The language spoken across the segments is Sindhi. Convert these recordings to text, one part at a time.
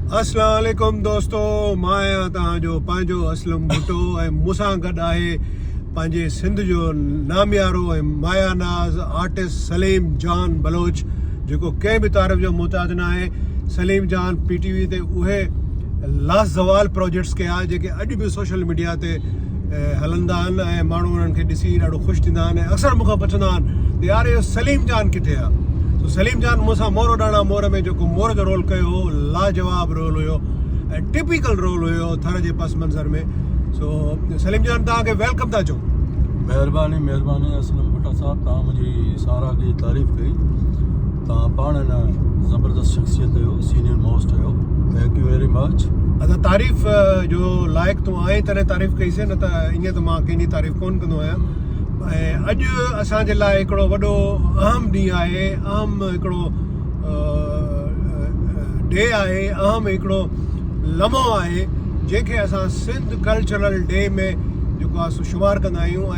اسلام عليڪم دوستو مان آهيان توهان جو پنهنجو اسلم ڀٽو ۽ مون سان گڏ آهي پنهنجي سنڌ جو ناميارو ۽ مايا ناز آرٽسٽ سليم جان بلوچ جيڪو ڪنهن به تعارف جو محتاج نه آهي Saleem Jan P T V تي اهي لازوال پروجيڪٽس ڪيا جيڪي اڄ به سوشل ميڊيا تي هلندا آهن ۽ ماڻهو انهن کي ڏسي ڏاڍو خوش ٿيندا آهن ۽ اڪثر مون کان پڇندا آهن ته يار اهو سليم جان ڪٿي آهي سو سليم جان مون سان مور ڏاڻا مور ۾ جيڪو مور جو رول ڪيو هو لاجواب رول هيو ۽ ٽپيڪل رول هيو ٿر جي پس منظر ۾ سو سليم جان توهان کي ويلڪم ٿا چون مهرباني مهرباني اسلم ڀٽا صاحب توهان منهنجي ساراهه جي تعريف ڪئي تان پاڻ هن زبردست شخصيت جو سينيئر موسٽ هيو ٿينڪ يو ويري مچ ادا تعريف جو لائق تو آئين تڏهن تعريف ڪئي سي نه ته ائين ته مان ڪنهن جي تعريف ڪون ڪندو آهيان ۽ اڄ اسان جي لاء هڪڙو وڏو اهم ڏينهن آهي اهم هڪڙو ڊي آهي اهم هڪڙو لمحو آهي جنهن کي اسان سنڌ ڪلچرل ڊي ۾ جيڪو آهي سو شمار ڪندا آهيون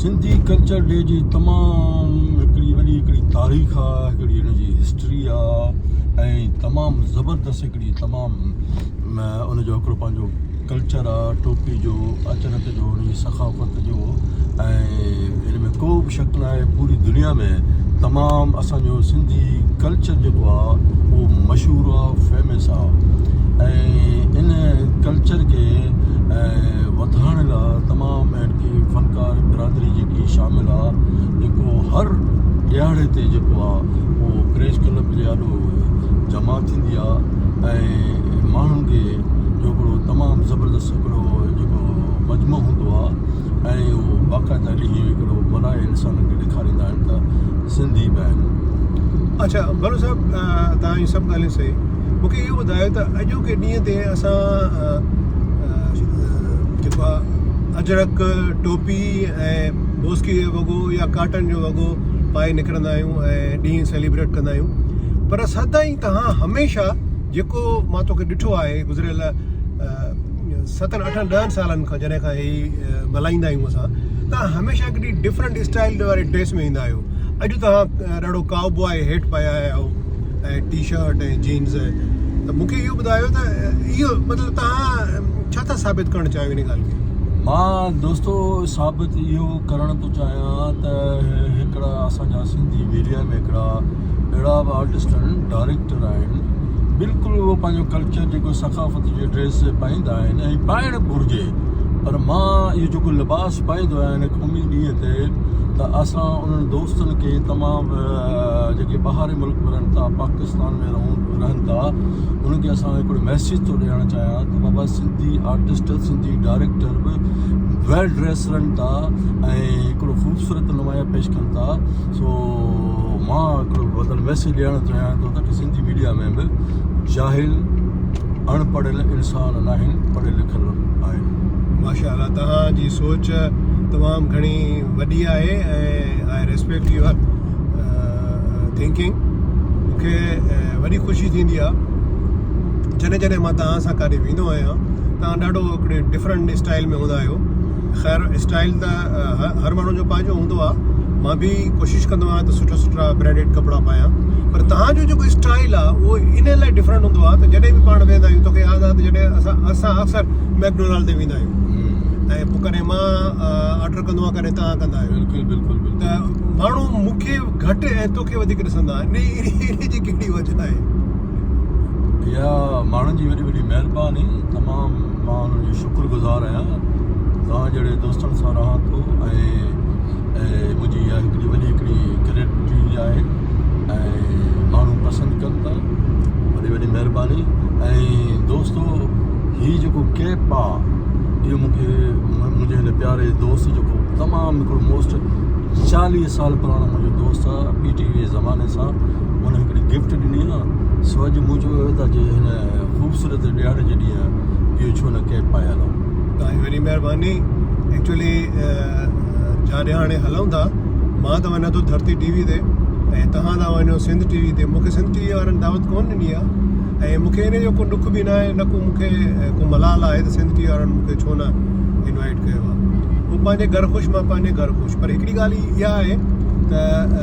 سنڌي ڪلچر ڊي جي تمام هڪڙي وڏي هڪڙي تاريخ آ هڪڙي ان جي هسٽري آ ۽ تمام زبردست هڪڙي تمام ان جو هڪڙو پنهنجو ڪلچر آ ٽوپي جو اچرڪ جو ان جي ثقافت جو ۽ ان ۾ ڪو به شڪ نه آهي پوري دنيا ۾ تمام اسان جو سنڌي ڪلچر جيڪو آ اهو مشهور آ فيمس آ ۽ ان ڪلچر کي وڌائڻ لاء تمام اهڙي فنڪار برادري جيڪي شامل آ جيڪو هر ڏهاڙي تي جيڪو آ اهو ڪريش ڪلب جي آڏو جمع ٿيندي آ ۽ ماڻهن کي جو هڪڙو تمام زبردست هڪڙو جيڪو مجمع هوندو آ ۽ اهو باقاعده ڏينهن جو هڪڙو ملهائي انسان کي ڏيکاريندا آهن ته سنڌي به آهن اڇا بلو صاحب توهان جون سڀ ڳالهيون صحيح مون کي اهو ٻڌايو ته اڄوڪي ڏينهن تي اسان جيڪو آهي اجرڪ، ٽوپي ۽ بوسڪي جو وڳو يا ڪاٽن جو وڳو پائي نڪرندا آهيون ۽ ڏينهن سيليبريٽ ڪندا آهيون پر سدائين توهان هميشه جيڪو مان توکي ڏٺو آهي گذريل ستن اٺن ڏهن سالن کان جڏهن کان هي ملهائيندا آهيون اسان توهان هميشه هڪڙي ڊفرنٽ اسٽائل واري ڊريس ۾ ايندا آهيو اڄ توهان ڏاڍو ڪائو بوائي هيٽ پايو آهيو ۽ ٽي شرٽ ۽ جينز ته مونکي اهو ٻڌايو ته اهو مطلب تهان ڇا ٿا ثابت ڪرڻ چاهيو ان ڳالهه کي مان دوستو ثابت اهو ڪرڻ ٿو چاهيان ته هڪڙا اسان جا سنڌي ميڊيا ۾ هڪڙا اهڙا به آرٽسٽ آهن ڊائريڪٽر آهن بلڪل اهو پنهنجو ڪلچر جيڪو ثقافت جي ڊريس پائيندا آهن ۽ پائڻ گهرجي پر مان اهو جيڪو لباس پائيندو آهيان ان قومي ڏينهن تي ته اسان انهن دوستن کي تمام جيڪي ٻاهرين ملڪ ۾ رهن ٿا پاڪستان ۾ رهون رهن ٿا انهن کي اسان هڪڙو ميسيج ٿو ڏيڻ چاهيان ته بابا سنڌي آرٽسٽ سنڌي ڊائريڪٽر به ويل ڊريس رهن ٿا ۽ هڪڙو خوبصورت نمايان پيش ڪن ٿا سو مان هڪڙو بدل ميسيج ڏيڻ چاهيان ٿو ته سنڌي ميڊيا ۾ به جاهل اڻ پڙهيل انسان ناهن پڙهيل لکيل آهن. ماشاء الله توهان جي سوچ تمام گهڻي وڏي آهي ۽ آء ريسپيڪٽ يوئر ٿنڪنگ مون کي وڏي خوشي ٿيندي آهي جڏهن جڏهن مان توهان سان ڪاڏي ويندو آهيان توهان ڏاڍو هڪڙي ڊفرنٽ اسٽائل ۾ هوندا آهيو خير اسٽائيل ته هر ماڻهو جو پنهنجو هوندو آهي مان به ڪوشش ڪندو آهيان ته سٺا سٺا برانڊيڊ ڪپڙا پايان پر تهان جو جيڪو اسٽائيل آهي اهو ان لاء ڊفرنٽ هوندو آهي ته جڏهن به پاڻ ويندا آهيون توکي ياد آهي ته جڏهن اسان اسان اڪثر ميڪڊونالڊ تي ويندا آهيون ۽ پوء ڪڏهن مان آرڊر ڪندو آهيان ڪڏهن تهان ڪندا آهيو بلڪل بلڪل بلڪل ته ماڻهو مون کي گهٽ ۽ توکي وڌيڪ ڏسندا آهن ان جي ڪهڙي وجه آهي يا ماڻهن جي وڏي وڏي مهرباني تمام مان انهن جو شڪر گذار آهيان توهان جهڙي دوستن سان رهان ٿو ۽ منهنجي اها هڪڙي وڏي هڪڙي گريٽ آهي ۽ ماڻهو پسند ڪن ٿا وڏي وڏي مهرباني ۽ دوستو هي جيڪو ڪيپ آهي اهو مونکي منهنجي هن پياري دوست جو تمام هڪڙو موسٽ چاليهه سال پراڻو منهنجو دوست آهي پي ٽي وي زماني سان ان هڪڙي گفٽ ڏني ها سو اڄ مون چيو هيو ته اڄ هن خوبصورت ڏيهاڙي جي ڏينهن اهو ڇو نه ڪيپ پايل آهي توهان جي وڏي مهرباني ايڪچولي جاڏي هاڻي هلون ٿا مان ته وڃان ٿو ڌرتي ٽي وي تي ۽ توهان ٿا وڃو سنڌ ٽي وي تي مون کي سنڌ ٽي وي وارن دعوت ڪون ڏني آهي ۽ مون کي ان جو ڪو ڏک به نه آهي نه ڪو مون کي ڪو ملال آهي ته سنڌ ٽي وي وارن مون کي ڇو نه انوائٽ ڪيو آهي هو پنهنجي گهر خوش مان پنهنجي گهر خوش پر هڪڙي ڳالهه اها آهي ته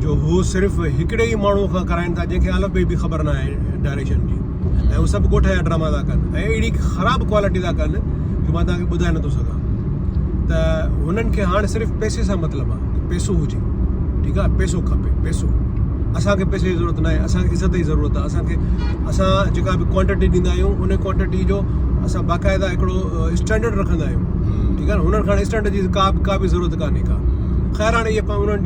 جو هو صرف هڪڙي ئي ماڻهو کان ڪرائين ٿا جنهن کي الف بي به خبر نه آهي ڊائريڪشن جي ۽ هو سڀ ڳوٺ جا ڊراما ٿا ڪن ۽ اهڙي خراب ڪوالٽي ٿا ڪن جو مان توهان کي ٻڌائي نٿو سگهان ته هنن کي هاڻ صرف پئسي سان مطلب آهي پئسو هجي ٺيڪ آهي پئسو کپي پئسو اسان کي پئسي جي ضرورت نه آهي اسان کي عزت جي ضرورت آهي اسان کي اسان جيڪا به ڪوانٽٽي ڏيندا آهيون ان ڪوانٽٽي جو اسان باقاعده هڪڙو اسٽينڊرڊ رکندا آهيون ٺيڪ آهي هنن کي اسٽينڊرڊ جي ڪا به ڪا به ضرورت ڪانهي ڪا خير هاڻي اهي انهن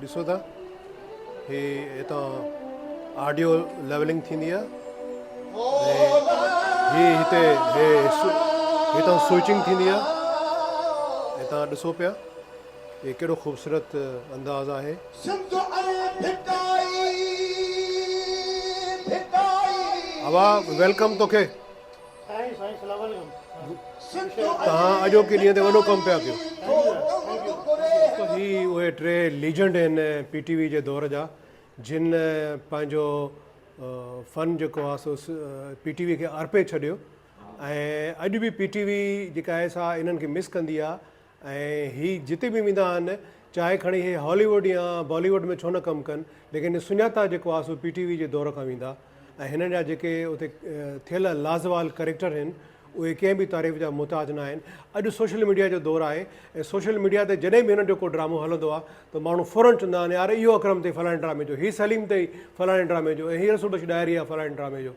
ڏسو ٿا هي هتان آڊيو ليولنگ ٿيندي آهي هي هتي هي هتان سوئچنگ ٿيندي آهي هتان ڏسو پيا هي ڪهڙو خوبصورت انداز آهي هوا ويلڪم توکي توهان اڄوڪي ڏينهن تي وڏو ڪم پيا ڪيو. هي اهي ٽي ليجنڊ آهن پي ٽي وي جي دور جا جن پنهنجو فن جيڪو آهي سو پي ٽي وي کي ارپي ڇڏيو ۽ اڄ به پي ٽي وي جيڪا آهي سا انهن کي مس ڪندي آهي ۽ هي جتي به ويندا آهن چاهي کڻي هي هالي ووڊ يا بالي ووڊ ۾ ڇو نه ڪم ڪن ليڪن سڃاتا جيڪو آهي سو پي ٽي وي جي دور کان ويندا ۽ هنن جا جيڪي اتي ٿيل لازوال ڪريڪٽر هن اهي ڪنهن به تعريف جا محتاج نه آهن اڄ سوشل ميڊيا جو دور آهي ۽ سوشل ميڊيا تي جڏهن به هنن جو ڪو ڊرامو هلندو آهي ته ماڻهو فورن چوندا آهن يار اهو اڪرم تي فلاڻي ڊرامي جو هي سليم تي فلاڻي ڊرامي جو ۽ هي رسول بخش ڏاهري آهي فلاڻي ڊرامي جو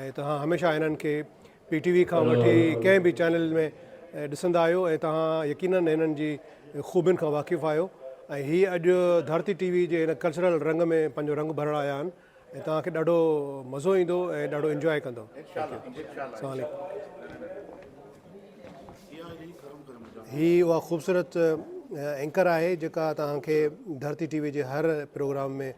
۽ توهان هميشه هنن کي پي ٽي وي کان وٺي ڪنهن به چينل ۾ ڏسندا آهيو ۽ توهان يقينن هنن جي خوبين کان واقف آهيو ۽ هي اڄ ڌرتي ٽي وي جي هن ڪلچرل رنگ ۾ پنهنجو رنگ ڀرڻ آيا آهن ۽ توهان کي ڏاڍو مزو ايندو ۽ ڏاڍو انجواء ڪندو السلام عليڪم هي اها خوبصورت اينڪر آهي جيڪا توهان کي ڌرتي ٽي وي جي هر پروگرام ۾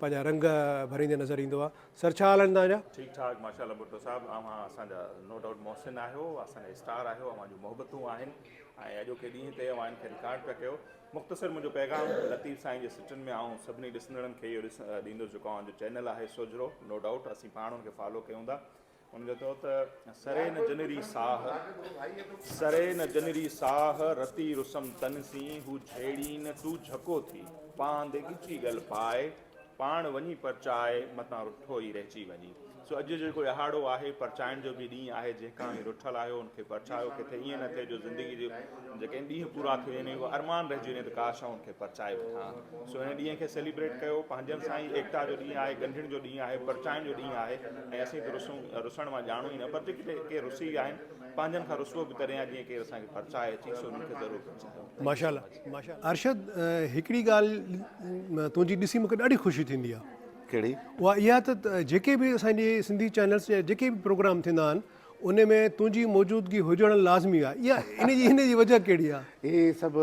پنهنجا رنگ ڀريندي نظر ايندو آ سر ڇا حال آهن توهان جا. ٺيڪ ٺاڪ ماشاءالله ڀٽو صاحب اوهان اسان جا نو ڊائوٽ محسن آهيو اسان جا اسٽار آهيو اوهان جون محبتون آهن ۽ اڄوڪي ڏينهن تي اوهان ان کي رڪارڊ پيا ڪيو مختصر منهنجو پيغام لطيف سائين جي سٽن ۾ آئون سڀني ڏسندڙن کي اهو ڏيندو جيڪو اوهان جو چينل آهي سوجهرو نو ڊائوٽ اسين پاڻ ان کي فالو ڪيون ٿا هن چيو ته سري نه جنري ساهه، سري نه جنري ساهه، رتي رسم تن سين، هو جهيڙين تون جهڪو ٿي، پاند ڳچي ڳل پائي، پاڻ وڃي پرچائي، متان رٺو ئي رهجي وڃي. سو اڄ جيڪو اهاڙو آهي، پرچائڻ جو به ڏينهن آهي، جنهن کان اوهين رٺل آهيو، ان کي پرچايو، ڪٿي ائين نه ٿئي جو زندگي جي جيڪڏهن ڏينهن پورا ٿي وڃن اهو ارمان رهجي وڃي ته ڪاش آئون ان کي پرچائي وٺان سو هن ڏينهن کي سيليبريٽ ڪيو پنهنجن سان ئي ايڪتا جو ڏينهن آهي ڳنڍڻ جو ڏينهن آهي پرچائڻ جو ڏينهن آهي ۽ اسين ته رسون رسڻ مان ڄاڻون ئي نه پر جيڪي ڪي رسي ويا آهن پنهنجن کان رسوو به تڏهن آهي جيئن ڪير اسان کي پرچائي اچي سو انهن کي ضرور پرچايو ماشاءالله ماشاءالله ارشد هڪڙي ڳالهه تنهنجي ڏسي مونکي ڏاڍي خوشي ٿيندي آهي ڪهڙي اها اها ته جيڪي به اسان جي سنڌي چينلز جي جيڪي به پروگرام ٿيندا آهن ان ۾ تنهنجي موجودگي هجڻ لازمي آهي. ان جي وجهه ڪهڙي آهي؟ هي سڀ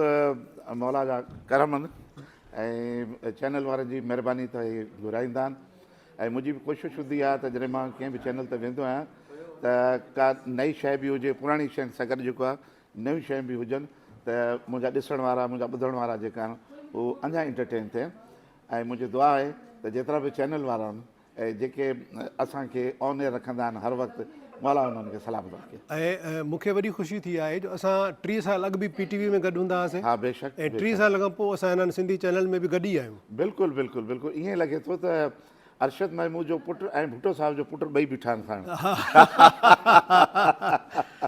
مولا جا ڪرم آهن ۽ چينل وارن جي مهرباني ته هي گهرائيندا آهن ۽ منهنجي به ڪوشش هوندي آهي ته جڏهن مان ڪنهن به چينل تي ويندو آهيان ته ڪا نئي شيء به هجي پراڻي شين سان گڏ جيڪو آهي نيون شيون به هجن ته منهنجا ڏسڻ وارا منهنجا ٻڌڻ وارا جيڪا آهن هو اڃا انٽرٽين ٿين ۽ منهنجي دعا آهي ته جيترا به چينل وارا آهن اهي جيڪي اسان کي آن ايئر رکندا آهن هر وقت مولا انهن کي سلامت رکي. ۽ مون کي وڏي خوشي ٿي آهي جو اسان ٽيهه سال اڳ به پي ٽي وي ۾ گڏ هوندا هئاسين ها بيشڪ ۽ ٽيهه بيشڪ سال کان پوء اسان هنن سنڌي چينل ۾ به گڏ ئي آهيون. بلڪل بلڪل بلڪل ايئن لڳي ٿو ته ارشد محمود جو پٽ ۽ ڀٽو صاحب جو پٽ ٻئي بيٺا آهن ساڻ.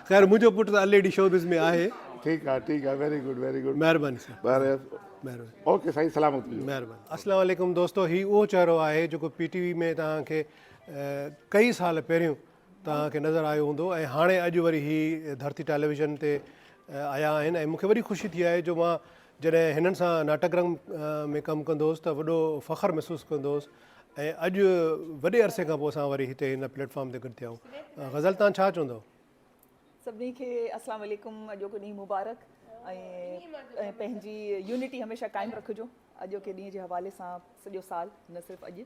خير منهنجو پٽ ته الريڊي شوبز ۾ آهي. ٺيڪ آهي ٺيڪ آهي ويري گڊ ويري گڊ مهرباني سر. مهرباني اوڪي سائين سلامت هجو مهرباني السلام عليڪم دوستو هي اهو چهرو آهي جيڪو پي ٽي وي ۾ توهان کي ڪئي سال پهريون توهان کي نظر آيو هوندو ۽ هاڻي اڄ وري هي ڌرتي ٽيليويزن تي آيا آهن ۽ مونکي وڏي خوشي ٿي آهي جو مان جڏهن هنن سان ناٽڪ رنگ ۾ ڪم ڪندو هوس ته وڏو فخر محسوس ڪندو هوس ۽ اڄ وڏي عرصي کان پوء اسان وري هتي هن پليٽ فارم تي گڏ ٿيا آهيون غزل تان ڇا چوندو سڀني کي اسلام عليڪم اڄوڪو ڏينهن مبارڪ ۽ پنهنجي يونٽي هميشه قائم رکجو اڄوڪي ڏينهن جي حوالي سان سڄو سال نه صرف اڄ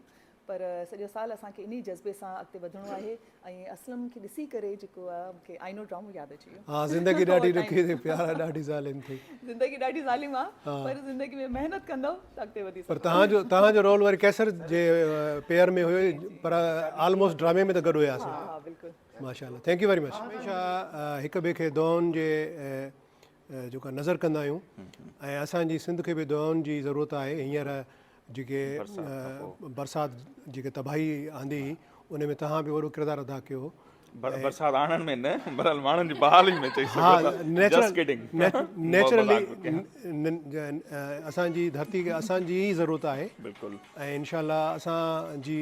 پر سڄو سال اسان کي انهي جذبي سان اڳتي وڌڻو آهي ۽ اسلم کي ڏسي ڪري جيڪو آهي مون کي آئينو ڊرامو ياد اچي ويو ها زندگي ڏاڍي ڏکي ٿي پيارا ڏاڍي ظالم ٿي زندگي ڏاڍي ظالم آهي پر زندگي ۾ محنت ڪندو ته اڳتي وڌي سگهندو پر تهان جو تهان جو رول وري قيصر جي پيئر ۾ هيو پر آلموسٽ ڊرامي ۾ ته گڏ هياسين ها ها بلڪل ماشاء الله ٿينڪ يو ويري مچ هميشه هڪ ٻئي کي دعائن جي جيڪا نظر ڪندا آهيون ۽ اسان جي سنڌ کي به دعائن جي ضرورت آهي هينئر جيڪي برسات جيڪي تباهي آندي هئي ان ۾ توهان به وڏو ڪردار ادا ڪيو هو برسات آڻڻ ۾ نه برحال ماڻهن جي بحالي ۾ چئي سگهجي ٿو جسٽ ڪڊنگ نيچرلي اسان جي ڌرتي کي اسان جي ئي ضرورت آهي بلڪل ۽ انشاء الله اسان جي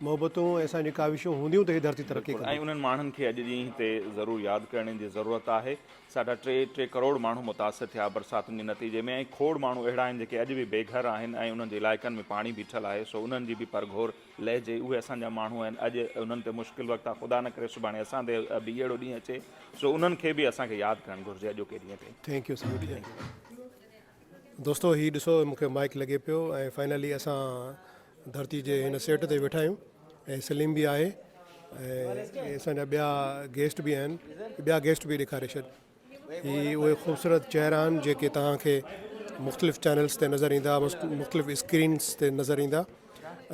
محبتون ۽ اسان جون ڪاوشون هونديون ته هي ڌرتي ترقي ڪندي. ۽ انهن ماڻهن کي اڄ ڏينهن تي ضرور ياد ڪرڻ جي ضرورت آهي. ساڍا ٽي ٽي ڪروڙ ماڻهو متاثر ٿيا برساتن جي نتيجي ۾ ۽ کوڙ ماڻهو اهڙا آهن جيڪي اڄ به بي گهر آهن ۽ انهن جي علائقن ۾ پاڻي بيٺل آهي سو انهن جي به پرگهور لهجي اهي اسان جا ماڻهو آهن اڄ انهن تي مشڪل وقت آهي خدا نه ڪري سڀاڻي اسان تي به اهڙو ڏينهن اچي سو انهن کي به اسان کي ياد ڪرڻ گهرجي اڄوڪي ڏينهن تي. Thank you سميت جي. دوستو هي ڏسو مون کي مائيڪ لڳي پيو ۽ فائنلي اسان ڌرتي جي هن سيٽ تي ويٺا آهيون ۽ سليم به آهي ۽ اسان جا ٻيا گيسٽ به آهن ٻيا گيسٽ به ڏيکاري ڇڏ هي اهي خوبصورت چهرا آهن جيڪي توهان کي مختلف چينلس تي نظر ايندا مختلف اسڪرينس تي نظر ايندا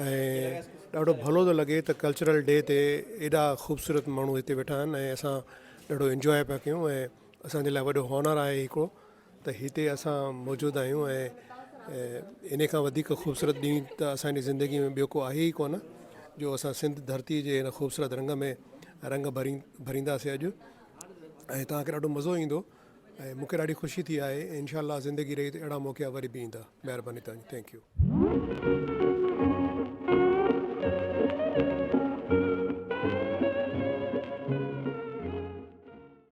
۽ ڏاڍو ڀلو ٿو لڳي ته ڪلچرل ڊي تي ايڏا خوبصورت ماڻهو هتي ويٺا آهن ۽ اسان ڏاڍو انجوائي پيا ڪيون ۽ اسانجي لاء وڏو هونر آهي هڪڙو ته هتي اسان موجود آهيون ۽ ان کان وڌيڪ خوبصورت ڏينهن ته اسان جي زندگي ۾ ٻيو ڪو آهي ئي ڪونه جو اسان سنڌ ڌرتي جي هن خوبصورت رنگ ۾ رنگ ڀري ڀرينداسي اڄ ۽ توهان کي ڏاڍو مزو ايندو ۽ مونکي ڏاڍي خوشي ٿي آهي انشاء الله زندگي رهي ته اهڙا موقعا وري به ايندا مهرباني توهان جي ٿينڪ يو.